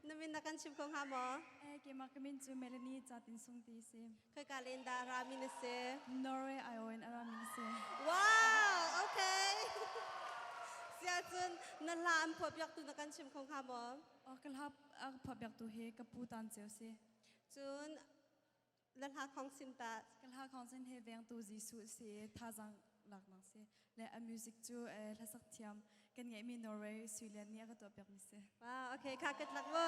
Na min na kan chim ko hnga maw? Eh keimah ka min cu Melanie Chatin Sung ti si. Khoika len dah rami na si? Norway Iowan a rami na si. Wow, okay. Siahcun na hla an phuahpiaktu na kan chim kho hnga maw? Oh ka hla a phuahpiaktu hi ka pu Tan Ceu si. Cun le hla khong sin ta ka hla khong sin he vengtu Jesuh si thazang lak nang si le a music cu hla sak thiam kan ngai mi Norway Sweden nih a ka tuah piak mi si wow okay kha ka tlak wo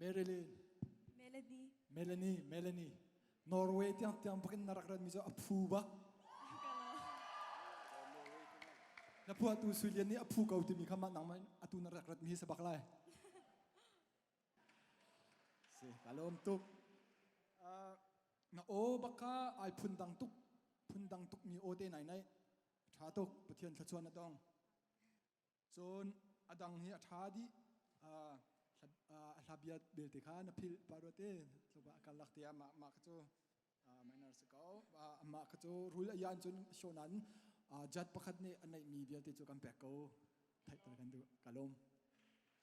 Marilyn. Melanie. Melanie, Melanie. Norway tiang tiang bakin na rak rat mi cu a phu ba. Na phu atu Sulian nih a phu ko timi kha mah nangmah atu na rak rat mi sabak lai. Si, kalom tuk. Na o baka ai phun dang tuk phun dang tuk mi o te nai nai. Tha tuk Pathian thluachuan na tong. Cun a dang hi a ṭha dih. A hla bia belte kha na philh pa ruate tluba a kalak te ah mah mah kha cu mainar si ko. Mah kha cu rul a yan cun shonan jat pakhat nih a neihmi vialte cu kan pek ko. Theih kan duh. Ka lawm.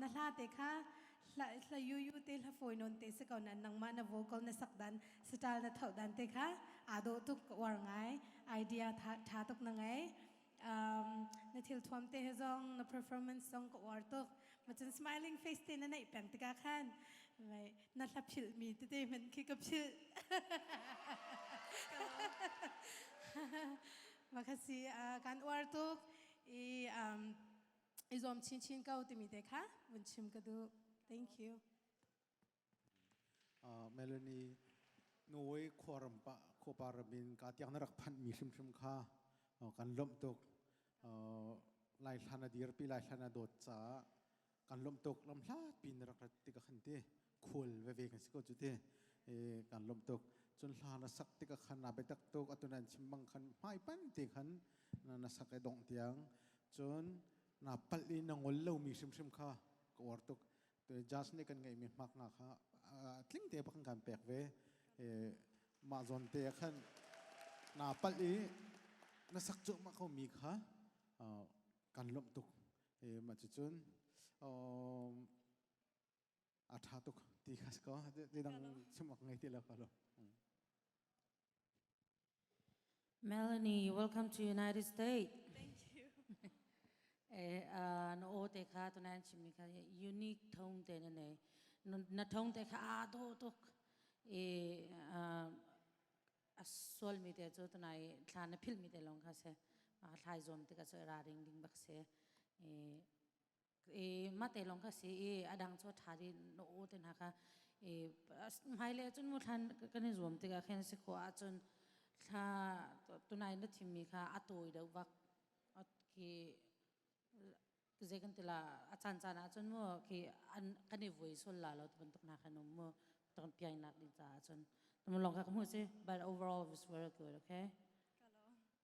na hla te kha hla yu yu te hla fawi non te si ko na nangmah na vocal na sak dan style na thau dan te kha aa do tuk war ngai idea tha tuk na ngai na thil thuam te he zong na performance song ka war tuk machan smiling face te na nei peng tika khan na hla phil mi te te man khi ka phil makhasi kan war tuk i um i zuam chinchin ko timi te kha vun chim ka duh. Thank you. Uh, Melanie, Norway khuaram pa khopa ramin ka tiang na rak phanh mi hrimhrim kha uh, kan lomh tuk uh, lai hlan a dir pi lai hlan a dawt ca kan lomh tuk lam hlat pi na rak rat ti ka khan ti khual veve kan si ko cu ti kan lom tuk cun hla na sak tikah khan na biatak tuk atunan chimbang khan hmai pan te khan na sak e dongh tiang cun na pal i na ngol lo mi hrimhrim kha ka war tuk to jas nih kan ngeih mi hmak nga kha tling te kan kan pek ve ma zon te khan na pal i na sak cu ma kho mi kha kan lom tuk ma cu cun a ṭha tuk ti kha si kaw tidang chim ngai ti lo ka lo. Melanie, welcome to United States. Thank you. na o te kha to nan chim ni kha unique thong te ne ne na thong te kha a do tuk e a sol mi te chu to nai thla na phil mi te long kha se a thlai zom te ka so ra ring ding bak se e i mate long kha si i adang chu tha di no u te na kha i hmaile cun mu thlan kan i zuam tikah khan si khua ahcun thla tunai na thimmi kha a tawi deuh bak khi zei kan tila a caan caan ahcun mu khi kan i vui sul la lo bantuk na khan um mu ton piang nak ding caah cun mu long kha mu si but overall it was very good okay